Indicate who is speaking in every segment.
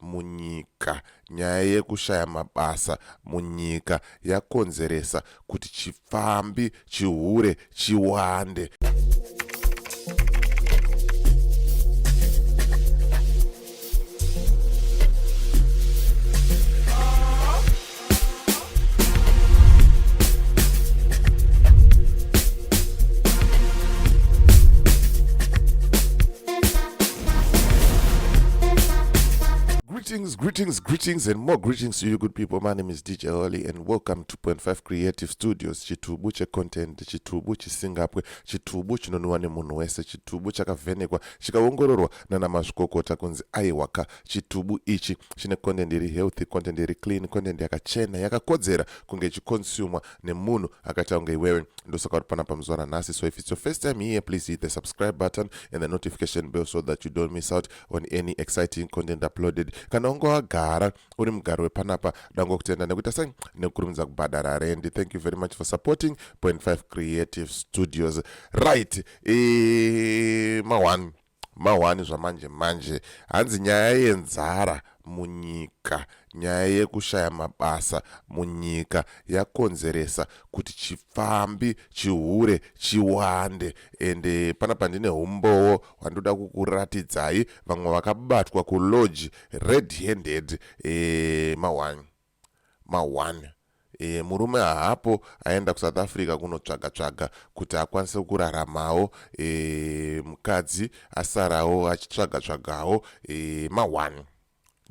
Speaker 1: munyika. Nyaya yekushaya mabasa munyika yakonzeresa kuti chipfambi, chihure chiwande. Greetings, greetings, greetings, and more greetings to you, good people. My name is DJ Holly, and welcome to Point Five Creative Studios. Chitubu che content, chitubu chisingapwe, chitubu chinonwiwa nemunhu wese, chitubu chakavhenekwa, chikaongororwa nana mazvikokota kunzi aiwaka chitubu ichi chine content iri healthy content iri clean content yakachena yakakodzera kunge ichiconsumwa nemunhu akaita kunge iwewe ndosaka uri panapa muzuva ranhasi so if it's your first time here please hit the subscribe button and the notification bell so that you don't miss out on any exciting content uploaded kana unge wagara uri mugari wepanapa dango kutenda nekuita sei nekukurumidza kubhadhara rendi thank you very much for supporting point 5 creative studios right e, ma 1 Mahwani zvamanje manje hanzi nyaya yenzara munyika nyaya yekushaya mabasa munyika yakonzeresa kuti chipfambi chihure chiwande ende pana pandine humbowo hwandoda kukuratidzai vamwe vakabatwa kulodge red handed e, eh, mahwani ma one Eeh murume haapo aenda kuSouth Africa kunotsvaga tsvaga kuti akwanise kuraramawo eeh mukadzi asarawo achitsvaga tsvagawo eeh ma one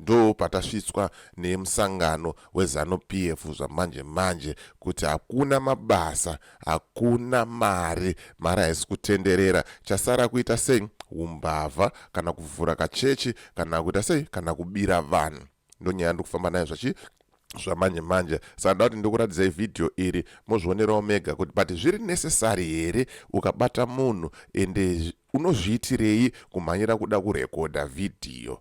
Speaker 1: ndo patasvitswa nemusangano wezanu pf zvamanje manje kuti hakuna mabasa hakuna mari mari haisi kutenderera chasara kuita sei umbavha kana kuvhura kachechi kana kuita sei kana kubira vanhu ndonyaya yandiri kufamba nayo zvachi zvamanje manje saka ndoda kuti ndikuratidzai vhidhiyo iri mozvionerawo mega kuti but zviri necessary here ukabata munhu ende unozviitirei kumhanyira kuda kurekodha vhidhiyo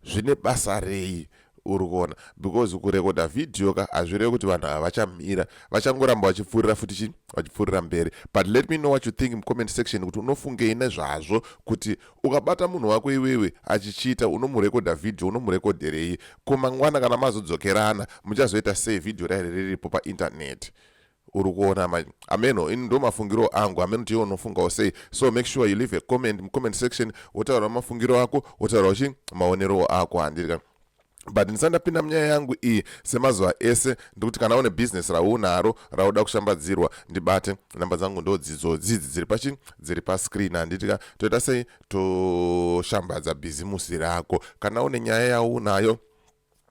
Speaker 1: zvine basa rei uri kuona because kurekodha vhidhiyo ka hazvirevi kuti vanhu ava vachamira vachangoramba vachipfuurira futi chi vachipfuurira mberi but let me know what you think mucomment section kuti unofungei nezvazvo kuti Ukabata munhu wako iwewe achichita unomurekodha video unomurekodherei ko mangwana kana mazodzokerana muchazoita sei video rairi riripo pa internet uri kuona manje ameno ini ndo mafungiro angu ameno kuti iwe unofungawo sei so make sure you leave a comment mucomment section wotaura mafungiro ako wotaura uchi maonerowo ako handiri ka but ndisati ndapinda munyaya yangu iyi semazuva ese ndikuti kana une business raunaro rauda kushambadzirwa ndibate namba dzangu ndodzidzo dzidzi dziri pachi dziri pascreen handitika toita sei toshambadza bhizimusi rako kana une nyaya yaunayo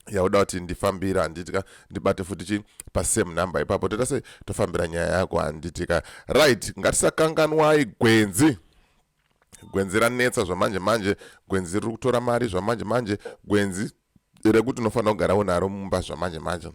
Speaker 1: yauda kuti ndifambira handitika ndibate futi chi pasame number ipapo toita sei tofambira nyaya yako handitika right ngatisakanganwai gwenzi gwenzi ranetsa zvamanje manje gwenzi riri kutora mari zvamanje manje gwenzi rekuti unofanira kugara unaro mumba zvamanje manje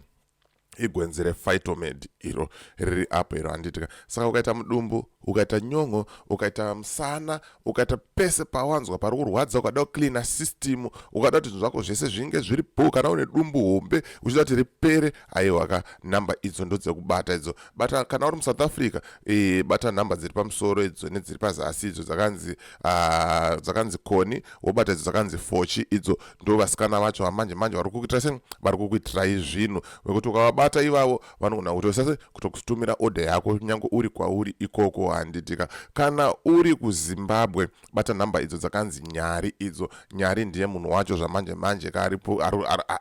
Speaker 1: igwenzi refitomad iro riri apo iro handitika saka ukaita mudumbu ukaita nyon'o ukaita musana ukaita pese pawanzwa pari kurwadza ukada kucleana system ukada kuti zvinhu zvako zvese zvinge zviri bho kana une dumbu hombe uchida kuti ripere aiwa ka number idzo ndodzekubata idzo bata kana uri musouth africa e, bata nhamba dziri pamusoro idzo nedziri pazasi idzo dzakanzi ah, dzakanzi uh, koni wobata idzo dzakanzi fochi idzo ndo vasikana vacho vamanje manje vari kukuitira se vari kukuitirai zvinhu vekuti ukavabata ivavo vanogona kutosase kutokutumira order yako nyange uri kwauri ikoko handitika kana uri kuzimbabwe bata nhamba idzo dzakanzi nyari idzo nyari ndiye munhu wacho zvamanje manje ka aripo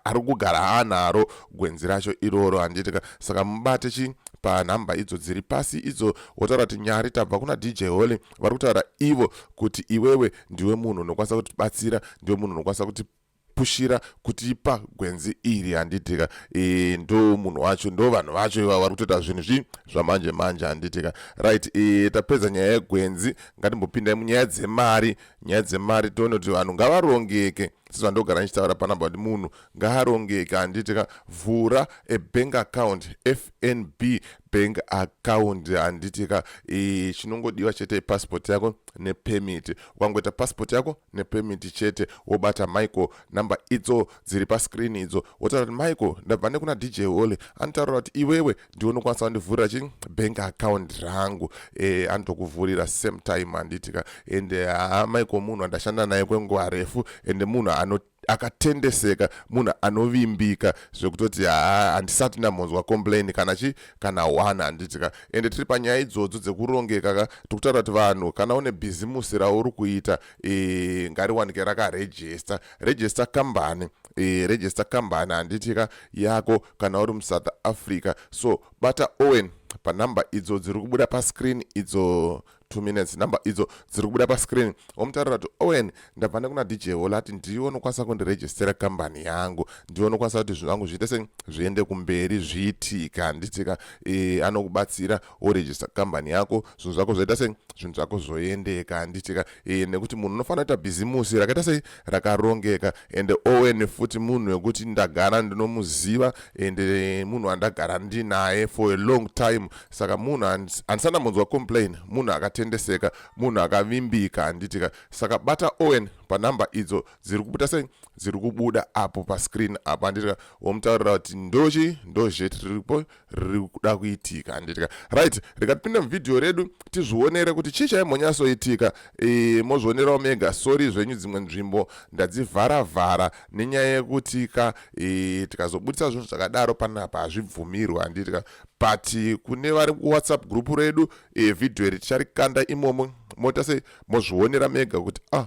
Speaker 1: ari kugara haanaro gwenzi racho iroro handiti ka saka mubate chi panhamba idzo dziri pasi idzo wotaura kuti nyari tabva kuna dj holy vari kutaura ivo kuti iwewe ndiwe munhu unokwanisa kutibatsira ndiwe munhu unokwanisa kuti pushira kuti ipa gwenzi iri handitika e, ndo munhu wacho ndo vanhu vacho iva vari kutoita zvinhu zvi zvamanje manje handitika right e, tapedza nyaya yegwenzi ngatimbopindai munyaya dzemari nyaya dzemari tione kuti vanhu ngavarongeke sezvandogara ndichitaura panamba kuti munhu ngaarongeke handitika vhura ebank account fnb bank account handiti ka e, chinongodiwa chete passport yako nepemit ukangoita passport yako nepemit chete wobata michael number idzo dziri pascreen idzo wotaura kuti michael ndabva nekuna dj holy anotaurira kuti iwewe ndiwe unokwanisa kundivhurira chi bank account rangu e, anotokuvhurira same time handiti ka ende haa michael munhu andashanda naye kwenguva refu ende munhu anoti akatendeseka munhu anovimbika zvekutoti haa handisati ndambonzwa complain kana chi kana one handiti ka ende tiri panyaya idzodzo dzekurongeka ka tikutaura kuti vanhu kana une bhizimusi rauri kuita e, ngariwanike rakarejista rejista kambani e, rejista kambani handiti ka yako kana uri musouth africa so bata owen panumber idzo dziri kubuda pascreen idzo 2 minutes number idzo dziri kubuda pascreen omutaurira kuti owen ndabva nekuna dj hola ati ndiwe unokwanisa kundiregistera kambani yangu ndiwe unokwanisa kuti zvinhu vangu zviite sei zviende kumberi zviitika handitika e, anokubatsira woregista kambani yako zvinhu zvako zvoita sei zvinhu zvako zvoendeka handitika e, nekuti munhu unofanira kuita bhizimusi rakaita sei rakarongeka ende owen futi munhu wekuti ndagara ndinomuziva ende munhu andagara ndinaye for a long time saka munhu handisana munzwa complain munhu akatendeseka munhu akavimbika handitika saka bata owen panumber idzo dziri kubuda sei dziri kubuda apo pascreen apo handitika womutaurira kuti ndochi ndozhet riripo riri kuda kuitika handitika right rega tipinde muvhidhiyo redu tizvionere kuti chii chaimhonyasoitika e, mozvionerawo mega sori zvenyu dzimwe nzvimbo ndadzivhara vhara nenyaya yekuti ka e, tikazobudisa zvinhu zvakadaro panapa hazvibvumirwi handitika but kune vari kuwhatsapp group redu e, vhidhiyo iri ticharikanda imomo moita sei mozvionera mega kuti ah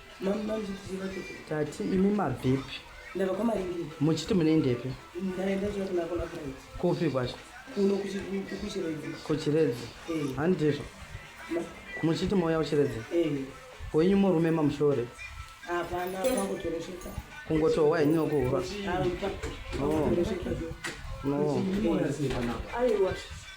Speaker 2: tati imi mabvepi
Speaker 3: muchiti munoendepi kupi
Speaker 2: kwacho
Speaker 3: kuchiredzi
Speaker 2: eh.
Speaker 3: handizvo
Speaker 2: muchiti mouya kuchiredzi eh. wenyu murume mamushore
Speaker 3: kungotohwa henyu
Speaker 2: nokuhura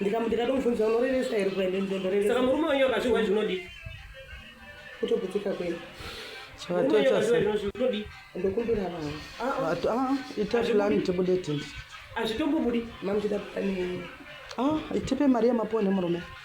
Speaker 3: ndikamutikatomufunisa unorevesa here kuende ndondorevesa saka murume wenyu akazvirwa zvinodii kutoputika kwenu chivatochasnodii ndokumbira vanhu ah, ah. ah, ita plan tibude tins hazvitombobudi mamuchida plan ah, itipe mari yemaponde murume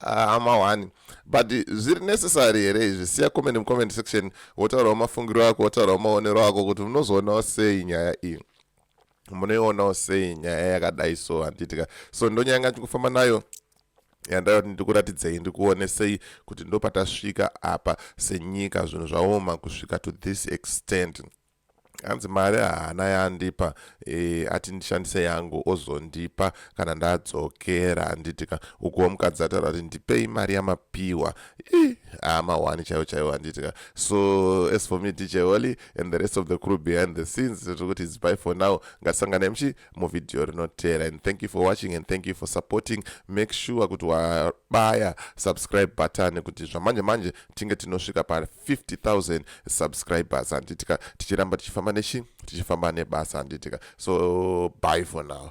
Speaker 1: ah hama ah, wani but zviri necessary here izvi siya comment mucomment section wotaurawo mafungiro ako wotaurawo maonero ako kuti munozoonawo sei nyaya iyi munoionawo sei nyaya yakadai so handiitika so ndonyaya nga ndikufamba nayo yandaiva kuti ndikuratidzei ndikuonesei kuti ndopatasvika apa senyika zvinhu zvaoma kusvika to this extent hanzi mari haana yaandipa e, ati ndishandise yangu ozondipa kana ndadzokera handiti ka ukuwo mukadzi ataura kuti ndipei mari yamapiwa amahwani chaiwo chaiwo handiti ka so as for me dj oli and the rest of the crew behind the scenes tiri kuti its by for now ngatisangane mchi muvhidhiyo rinotera and thank you for watching and thank you for supporting make sure kuti wabaya subscribe button kuti zvamanje manje tinge tinosvika pa 50000 subscribers handitika tichiramba tichifamba nechi tichifamba nebasa handitika so bye for now